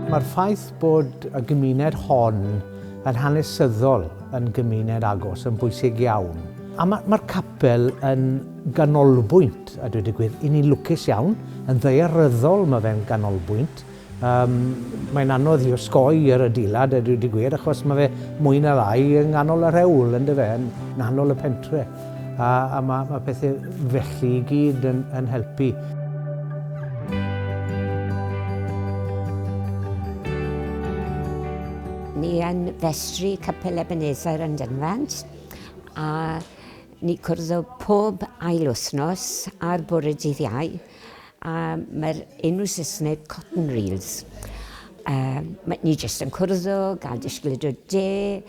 Mae'r ffaith bod y gymuned hon yn hanesyddol yn gymuned agos yn bwysig iawn. A mae, mae'r capel yn ganolbwynt, a dweud y gwir, i ni'n lwcus iawn, yn ddaearyddol mae fe'n ganolbwynt, Yym, mae'n anodd i osgoi yr adeilad, a dwi wedi gweud, achos mae fe mwy na lai yng nghanol y rhewl, yn dyfe, yn nghanol y pentre. A, a mae, mae pethau felly i gyd yn, yn helpu. Ni yn festri Capel Ebenezer yn Dunfant, a ni cwrdd o pob ail wythnos ar bore dydd Iau, A mae'r enw Saesneg cotton reels. Mae ni jyst yn cwrdd o, gael disgled o de,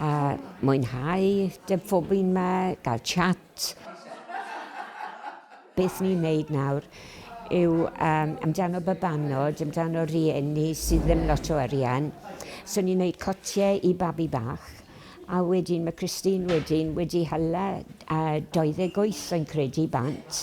a mwynhau dy ffobi'n ma, gael chat. Beth ni'n wneud nawr yw amdano babanod, amdano rhieni sydd ddim lot o arian. So ni'n wneud cotiau i babi bach, a wedyn mae Christine wedyn wedi hala 28 o'n credu bant.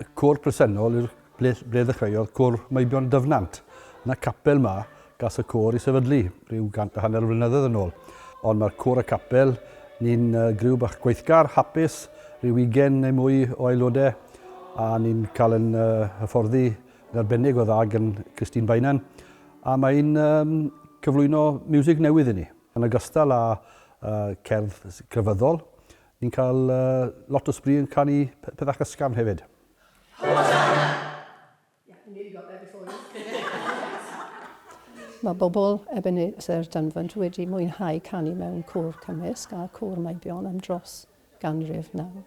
y côr presennol i'r ble ble ddechreuodd Côr Meibion Dyfnant. Yn y capel 'ma gas y côr i sefydlu rhyw gant a hanner o flynyddoedd yn ôl. Ond mae'r côr a capel, ni'n griw bach gweithgar, hapus, rhyw ugain neu mwy o aelodau, a ni'n cael yn hyfforddi yn arbennig o dda gan Christine Bainan, a mae'n cyflwyno miwsig newydd i ni. Yn ogystal â cerdd crefyddol, Ni'n cael lot o sbri yn canu pethach ysgafn hefyd. Mae bobl Ebenezer Dunfant wedi mwynhau canu mewn côr cymysg a Côr Meibion am dros ganrif nawr.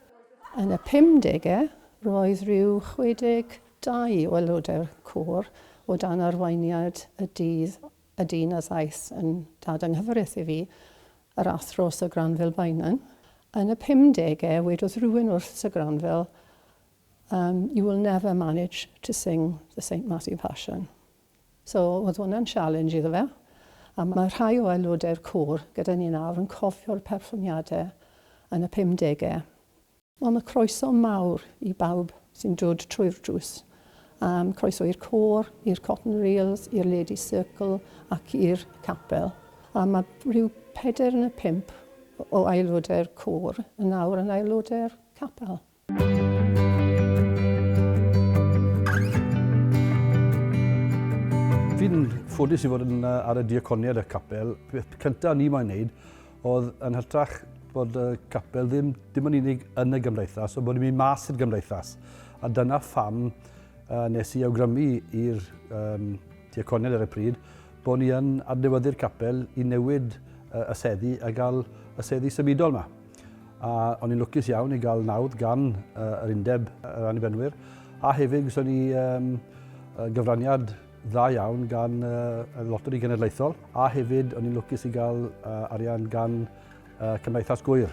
Yn y pumdegau, roedd rhyw 62 o aelodau'r côr o dan arweiniad y dydd Y dyn a ddaeth yn dad anghyfreth i fi, yr Athro Sir Granville Beynon. Yn y pumdegau, wedodd rhywun wrth Sir Granville, um, you will never manage to sing the St Matthew Passion. So, oedd hwnna'n sialens iddo fe. A mae rhai o aelodau'r côr gyda ni nawr yn cofio'r perfformiadau yn y pumdegau. Wel, mae croeso mawr i bawb sy'n dod trwy'r drws. Um, croeso i'r côr, i'r Cotton Reels, i'r Lady Circle ac i'r capel. A mae rhyw peder yn y pimp o aelodau'r côr yn nawr yn aelodau'r capel. Fi'n ffodus i fod yn, ar y diaconiad y capel. Peth cyntaf ni moyn wneud Oedd yn hytrach bod y capel ddim dim ond unig yn y gymdeithas, ond bod ni'n mynd mas i'r gymdeithas. A dyna pham uh, nes i awgrymu i'r um, diaconed ar y pryd bod ni yn adnewyddu'r capel i newid uh, y seddi a gael y seddi symudol yma. A o'n i'n lwcus iawn i gael nawdd gan uh, yr undeb yr annibenwyr, a hefyd gyda ni um, gyfraniad dda iawn gan y Loteri Genedlaethol a hefyd o'n i'n lwcus i gael arian gan Cymdeithas Gŵyr.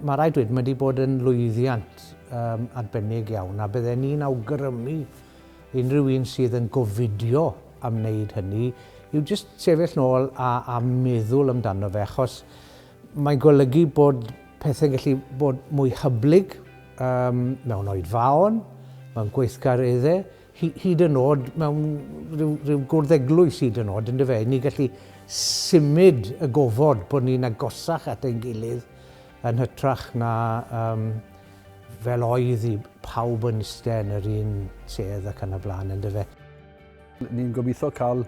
Mae rhaid dweud, mae wedi bod yn lwyddiant um, arbennig iawn a bydden ni'n awgrymu unrhyw un sydd yn gofidio am wneud hynny yw jyst sefyll nôl a, a meddwl amdano fe achos mae'n golygu bod pethau'n gallu bod mwy hyblyg um, mewn oedfaon, mewn gweithgareddau hyd yn oed mewn rhyw, rhyw gwrdd eglwys hyd yn oed, ynddo fe, ni gallu symud y gofod bod ni'n agosach at ein gilydd yn hytrach na um, fel oedd i pawb yn iste yn yr un sedd ac yn y blaen, ynddo fe. Ni'n gobeithio cael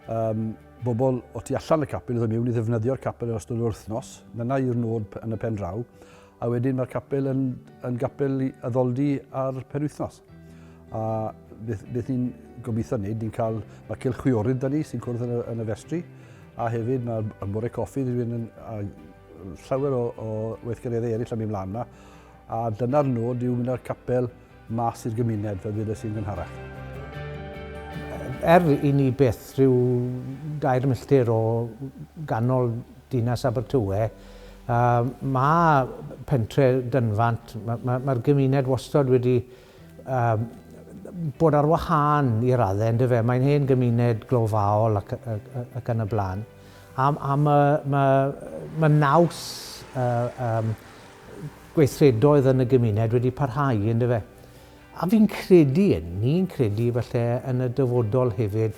um, bobl o tu allan y capel ddod mewn i ddefnyddio'r capel yn ystod yr wythnos. Dyna yw'r nod yn y pen draw. A wedyn mae'r capel yn, yn gapel addoldi ar penwythnos. A beth, beth ni'n gobeithio wneud, ni'n cael, mae Cylch Chwiorydd da ni sy'n cwrdd yn y, yn y festri, a hefyd mae'r y bore coffi wedi mynd yn, a llawer o, o weithgareddau eraill am mynd mlaen yna, a dyna'r nod yw mynd â'r capel mas i'r gymuned, fel dweud sy'n gynharach. Er i ni beth rhyw dair milltir o ganol Dinas Abertawe, a mae pentre Dunfant, mae'r ma, ma gymuned wastod wedi um, bod ar wahân i raddau, ynddo fe? Mae'n hen gymuned glofaol ac, ac, ac yn y blaen. A, a mae ma, ma naws uh, um, gweithredoedd yn y gymuned wedi parhau, ynddo fe? A fi'n credu, ni'n credu falle yn y dyfodol hefyd,